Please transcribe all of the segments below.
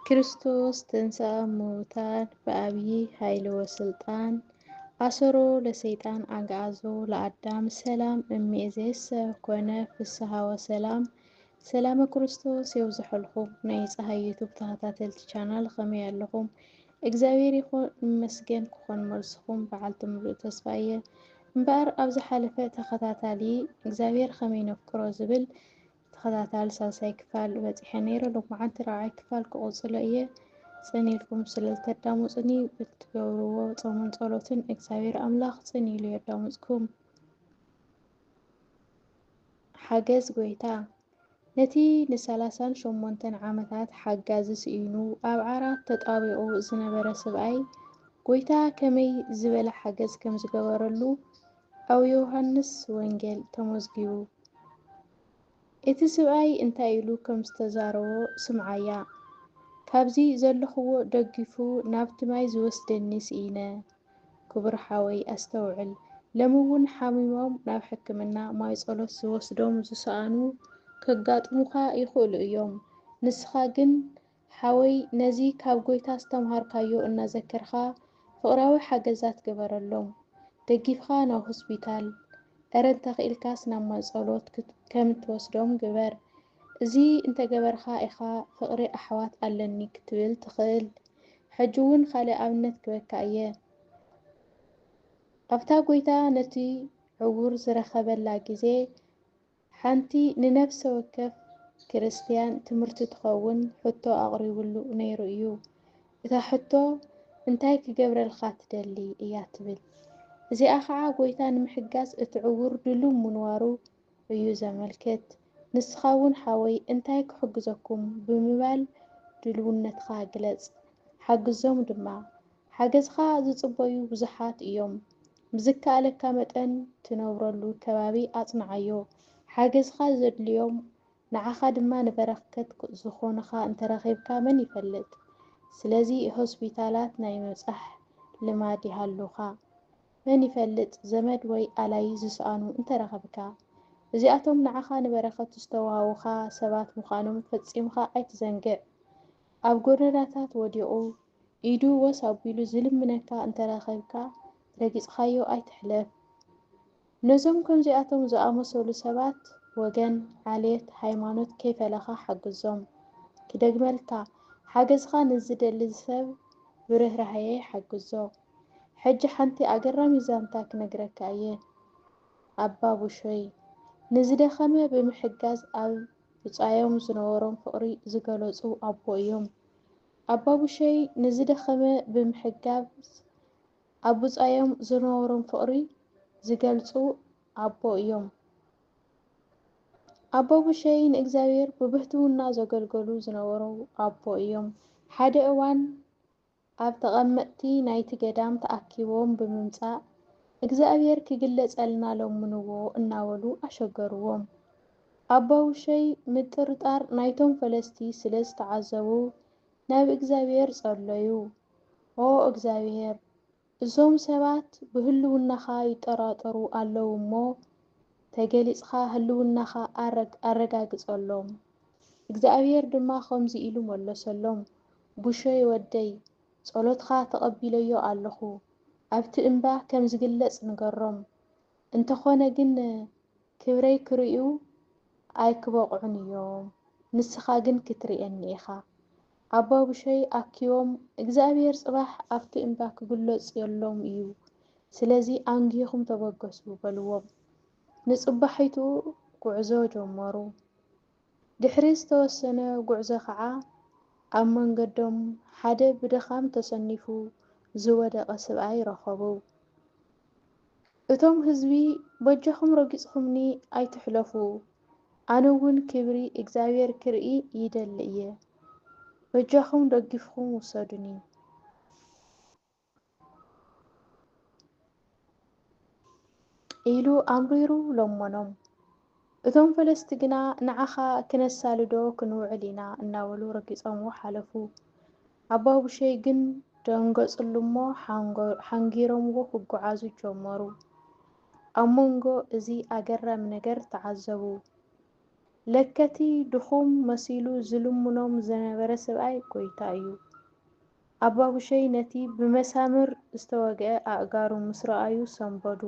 ክርስቶስ ተንሥአ እሙታን በአብይ ኃይል ወሥልጣን አሰሮ ለሰይጣን አግዓዞ ለአዳም ሰላም እምይእዜሰ ኮነ ፍስሓ ወሰላም ሰላመ ክርስቶስ የብዝሐልኩም ናይ ፀሐይ ዩቱብ ተኸታተልቲ ቻናል ከመይ ኣለኹም? እግዚኣብሔር ይኹን ይመስገን ክኾን መልስኹም በዓልቲ ምሉእ ተስፋ እየ። እምበኣር ኣብ ዝሓለፈ ተኸታታሊ እግዚኣብሔር ከመይ ነፍቅሮ ዝብል ተኸታታሊ ሳልሳይ ክፋል በጺሐ ነይረ ሎማዓንቲ ራብዓይ ክፋል ክቕጽሎ እየ ጽን ኢልኩም ስለ ዝተዳሙጽኒ ብትገብርዎ ጾምን ጸሎትን እግዚኣብሔር ኣምላኽ ጽን ኢሉ የዳሙጽኩም ሓገዝ ጎይታ ነቲ ንሰላሳን ሸሞንተን ዓመታት ሓጋዚ ስኢኑ ኣብ ዓራት ተጣቢቑ ዝነበረ ስብኣይ ጎይታ ከመይ ዝበለ ሓገዝ ከም ዝገበረሉ ኣብ ዮውሃንስ ወንጌል ተመዝጊቡ። እቲ ስብኣይ እንታይ ኢሉ ከም ዝተዛረቦ ስምዓያ፣ ካብዚ ዘለኹዎ ደጊፉ ናብቲ ማይ ዝወስደኒ ስኢነ። ክቡር ሓወይ ኣስተውዕል፣ ለሚ እውን ሓሚሞም ናብ ሕክምና ማይ ጸሎት ዝወስዶም ዝሰኣኑ ከጋጥሙኻ ይኽእሉ እዮም፣ ንስኻ ግን፣ ሓወይ ነዚ ካብ ጎይታ ዝተምሃርካዮ እናዘከርካ ፍቅራዊ ሓገዛት ግበረሎም ደጊፍካ ናብ ሆስፒታል እረ እንተኪኢልካስ ናብ ማይጸሎት ከም እትወስዶም ግበር እዚ እንተገበርካ ኢካ ፍቅሪ ኣሕዋት ኣለኒ ክትብል ትክእል ሕጂ ውን ካልእ ኣብነት ክበካ እየ ኣብታ ጎይታ ነቲ ዕውር ዝረከበላ ግዜ ሓንቲ ንነፍሰ ወከፍ ክርስትያን ትምህርቲ ትኸውን ሕቶ ኣቕሪቡሉ ነይሩ እዩ። እታ ሕቶ እንታይ ክገብረልካ ትደሊ? እያ ትብል። እዚኣ ኸዓ ጐይታ ንምሕጋዝ እቲ ዕዉር ድሉው ምንዋሩ እዩ ዘመልክት። ንስኻ እውን ሓወይ እንታይ ክሕግዘኩም ብምባል ድልውነትካ ግለጽ። ሓግዞም ድማ። ሓገዝኻ ዝጽበዩ ብዙሓት እዮም። ብዝከኣለካ መጠን ትነብረሉ ከባቢ ኣጽንዓዮ። ሓገዝኻ ዘድልዮም ንዓኻ ድማ ንበረከት ዝኾኑኻ እንተረኺብካ መን ይፈልጥ። ስለዚ ሆስፒታላት ናይ ምብጻሕ ልማድ ይሃሉኻ። መን ይፈልጥ ዘመድ ወይ ኣላይ ዝሰኣኑ እንተረኸብካ። እዚኣቶም ንዓኻ ንበረከት ዝተዋሃቡኻ ሰባት ምዃኖም ፈጺምካ ኣይትዘንግዕ። ኣብ ጎደናታት ወዲቑ ኢዱ ወስ ኣቢሉ ዝልምነካ እንተረኺብካ ረጊጽኻዮ ኣይትሕለፍ። ነዞም ከምዚኣቶም ዝኣመሰሉ ሰባት ወገን፣ ዓሌት፣ ሃይማኖት ከይፈለኻ ሓግዞም። ክደግመልካ፣ ሓገዝኻ ንዝደሊ ሰብ ብርህራሄ ሓግዞ። ሕጂ ሓንቲ ኣገራሚት ዛንታ ክነግረካ እየ። ኣባ ቡሾይ፣ ንዝደኸመ ብምሕጋዝ ኣብ ብጻዮም ዝነበሮም ፍቕሪ ዝገለጹ ኣቦ እዮም። ኣባቡሸይ ንዝደኸመ ብምሕጋዝ ኣብ ብጻዮም ዝነበሮም ፍቕሪ ዝገልጹ ኣቦ እዮም። ኣባቡሸይ ንእግዚኣብሔር ብብህትውና ዘገልገሉ ዝነበሩ ኣቦ እዮም። ሓደ እዋን ኣብ ተቐመጥቲ ናይቲ ገዳም ተኣኪቦም ብምምጻእ እግዚኣብሔር ክግለጸልና ለምንዎ እናበሉ ኣሸገርዎም። ኣባውሸይ ምጥርጣር ናይቶም ፈለስቲ ስለ ዝተዓዘቡ ናብ እግዚኣብሄር ጸለዩ። ኦ እግዚኣብሄር፣ እዞም ሰባት ብህልውናኻ ይጠራጠሩ ኣለዉ እሞ፣ ተገሊጽካ ህልውናኻ ኣረጋግጸሎም። እግዚኣብሄር ድማ ከምዚ ኢሉ መለሰሎም፣ ቡሸይ ወደይ፣ ጸሎትካ ተቐቢለዮ ኣለኹ። ኣብቲ እምባ ከም ዝግለጽ ንገሮም። እንተኾነ ግን ክብረይ ክርእዩ ኣይክበቕዑን እዮም፣ ንስኻ ግን ክትርእየኒ ኢኻ። ኣባቡሸይ ኣኪቦም፣ እግዚኣብሄር ጽባሕ ኣብቲ እምባ ክግሎጽ የሎን እዩ፣ ስለዚ ኣንጊህኹም ተበገሱ በልዎም። ንጽባሒቱ ጉዕዞ ጀመሩ። ድሕሪ ዝተወሰነ ጉዕዞ ኸዓ ኣብ መንገዶም ሓደ ብድኻም ተሰኒፉ ዝወደቐ ስብኣይ ረኸቡ። እቶም ህዝቢ በጃኹም ረጊፅኹምኒ ኣይትሕለፉ፣ ኣነ ውን ክብሪ እግዚኣብሔር ክርኢ ይደሊ እየ፣ በጃኹም ደጊፍኹም ውሰዱኒ። ኢሉ ኣምሪሩ ለመኖም። እቶም ፈለስቲ ግና ንዓኻ ክነሳልዶ ክንውዕል ኢና እናበሉ ረጊጾምዎ ሓለፉ። ኣባቡሸይ ግን ደንገጽሉ'ሞ ሓንጊሮምዎ ክጉዓዙ ጀመሩ። ኣብ መንጎ እዚ ኣገራሚ ነገር ተዓዘቡ። ለከ'ቲ ድኹም መሲሉ ዝልምኖም ዝነበረ ሰብኣይ ጎይታ እዩ። ኣባጉሸይ ነቲ ብመሳምር ዝተወግኤ ኣእጋሩ ምስ ረኣዩ ሰንበዱ።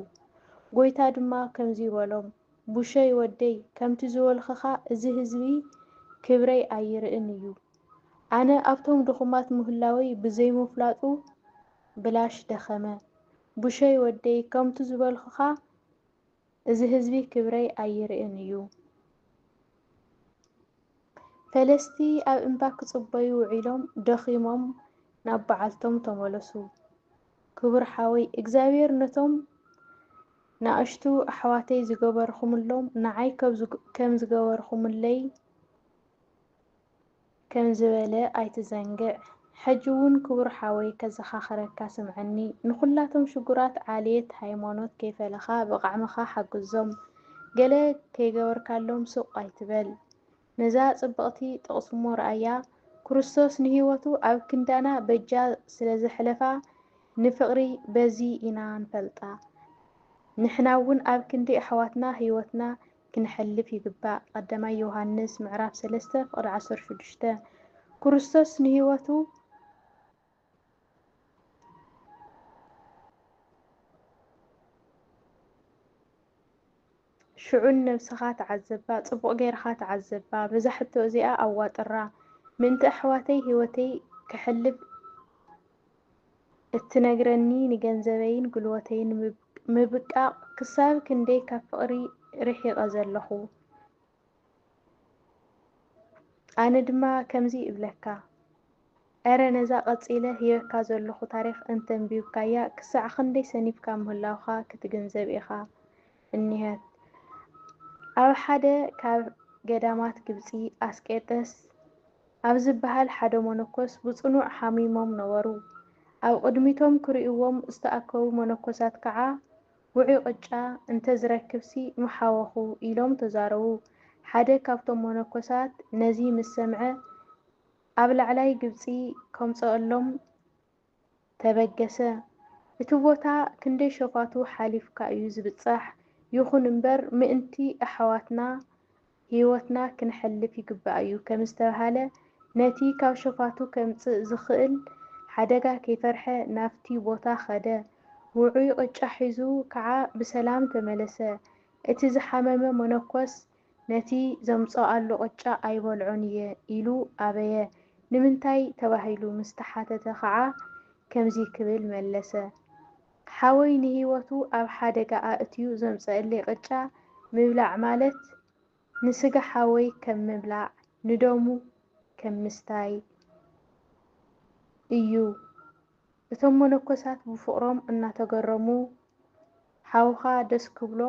ጎይታ ድማ ከምዚ በሎም፣ ቡሸይ ወደይ ከምቲ ዝበልክኻ እዚ ህዝቢ ክብረይ ኣይርእን እዩ። ኣነ ኣብቶም ድኹማት ምህላወይ ብዘይምፍላጡ ብላሽ ደኸመ። ቡሸይ ወደይ ከምቱ ዝበልክኻ እዚ ህዝቢ ክብረይ ኣይርእን እዩ። ፈለስቲ ኣብ እምባ ክጽበዩ ውዒሎም ደኺሞም ናብ በዓልቶም ተመለሱ። ክቡር ሓወይ እግዚኣብሔር ነቶም ናእሽቱ ኣሕዋተይ ዝገበርኹምሎም ንዓይ ከም ዝገበርኹምለይ፣ ከም ዝበለ ኣይትዘንግዕ። ሕጂ ውን ክቡር ሓወይ ከዘኻኽረካ ስምዐኒ ንኹላቶም ሽጉራት ዓልየት ሃይሞኖት ከይፈለኻ ብቓዕምኻ ሓግዞም ገለ ከይገበርካሎም ሱቕ ኣይትበል ነዛ ጽብቕቲ ጥቕስሞ ርኣያ ኩርስቶስ ንህይወቱ ኣብ ክንዳና በጃ ስለ ዘሕለፋ ንፍቕሪ በዚ ኢና ንፈልጣ ንሕና ውን ኣብ ክንዲ ኣሕዋትና ህይወትና ክንሐልፍ ይግባእ ቐዳማይ ዮሃንስ ምዕራፍ ሰለስተ ፍቕዲ ዓሰርተ ሽዱሽተ ኩርስቶስ ንህይወቱ ሽዑ ንነብስኻ ተዓዘባ ጽቡቕ ጌርኻ ተዓዘባ በዛ ሕቶ እዚኣ ኣዋጥራ ምእንቲ ኣሕዋተይ ህይወተይ ከሕልፍ እትነግረኒ ንገንዘበይን ጉልበተይን ምብቃቕ ክሳብ ክንደይ ካብ ፍቕሪ ርሒቐ ዘለኹ። ኣነ ድማ ከምዚ እብለካ እረ ነዛ ቀጺለ ሂበካ ዘለኹ ታሪኽ እንተንቢብካያ ክሳዕ ክንደይ ሰኒፍካ ምህላውካ ክትግንዘብ ኢኻ። እኒሀት። ኣብ ሓደ ካብ ገዳማት ግብጺ ኣስቄጥስ፣ ኣብ ዚብሃል ሓደ መነኮስ ብጽኑዕ ሓሚሞም ነበሩ። ኣብ ቕድሚቶም ኪርእይዎም ዝተኣከቡ መነኮሳት ከዓ፣ ውዑይ ቕጫ እንተ ዝረክብሲ ምሓወኹ፣ ኢሎም ተዛረቡ። ሓደ ካብቶም መነኮሳት ነዚ ምስ ሰምዐ፣ ኣብ ላዕላይ ግብጺ ከምጽኣሎም ተበገሰ እቲ ቦታ ክንደይ ሸፋቱ ሓሊፍካ እዩ ዝብጻሕ ይኹን እምበር ምእንቲ ኣሕዋትና ሂወትና ክነሕልፍ ይግባእ እዩ ከምዝተብሃለ ነቲ ካብ ሸፋቱ ከምጽእ ዝኽእል ሓደጋ ከይፈርሐ ናብቲ ቦታ ከደ ውዑይ ቅጫ ሒዙ ከዓ ብሰላም ተመለሰ እቲ ዝሓመመ መነኮስ ነቲ ዘምጽኣሉ ቅጫ ኣይበልዖን እየ ኢሉ ኣበየ። ንምንታይ ተባሂሉ ምስ ተሓተተ ከኣ ከምዚ ክብል መለሰ፣ ሓወይ ንህይወቱ ኣብ ሓደጋ ኣእትዩ ዘምጽእለይ ቅጫ ምብላዕ ማለት ንስጋ ሓወይ ከም ምብላዕ፣ ንደሙ ከም ምስታይ እዩ። እቶም መነኮሳት ብፍቕሮም እናተገረሙ፣ ሓውኻ ደስ ክብሎ፣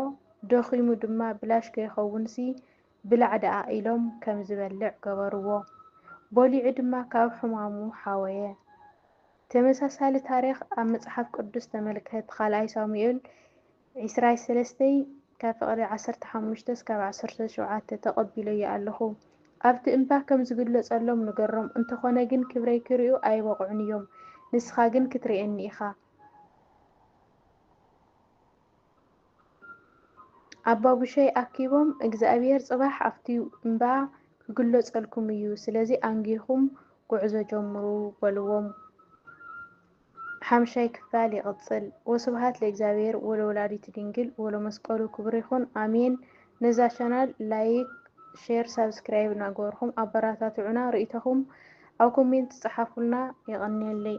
ደኺሙ ድማ ብላሽ ከይኸውንሲ ብላዕ ደኣ ኢሎም ከም ዝበልዕ ገበርዎ። በሊዑ ድማ ካብ ሕማሙ ሓወየ። ተመሳሳሊ ታሪኽ ኣብ መጽሓፍ ቅዱስ ተመልከት፣ ኻልኣይ ሳሙኤል፣ ዒስራይ ሰለስተይ ካብ ፍቕሪ ዓሰርተ ሓሙሽተ እስካብ ዓሰርተ ሸውዓተ ተቐቢለዮ ኣለኹ ኣብቲ እምባ ከም ዝግለጸሎም ንገሮም እንተኾነ ግን ክብረይ ክሪኡ ኣይበቕዑን እዮም ንስኻ ግን ክትሪኤኒ ኢኻ ኣባቡሸይ ኣኪቦም እግዝኣብሄር ጽባሕ ኣብቲ እምባ ክግለጸልኩም እዩ ስለዚ ኣንጊህኹም ጉዕዞ ጀምሩ በልዎም ሓምሻይ ክፋል ይቅጽል ወስብሃት ለእግዚኣብሔር ወለወላዲቱ ድንግል ወለመስቀሉ ክቡር ይኹን ኣሜን ነዛ ቻናል ላይክ ሼር ሳብስክራይብ እናገበርኹም ኣበራታትዑና ርኢቶኹም ኣብ ኮሜንት ጸሓፉልና የቀንየለይ።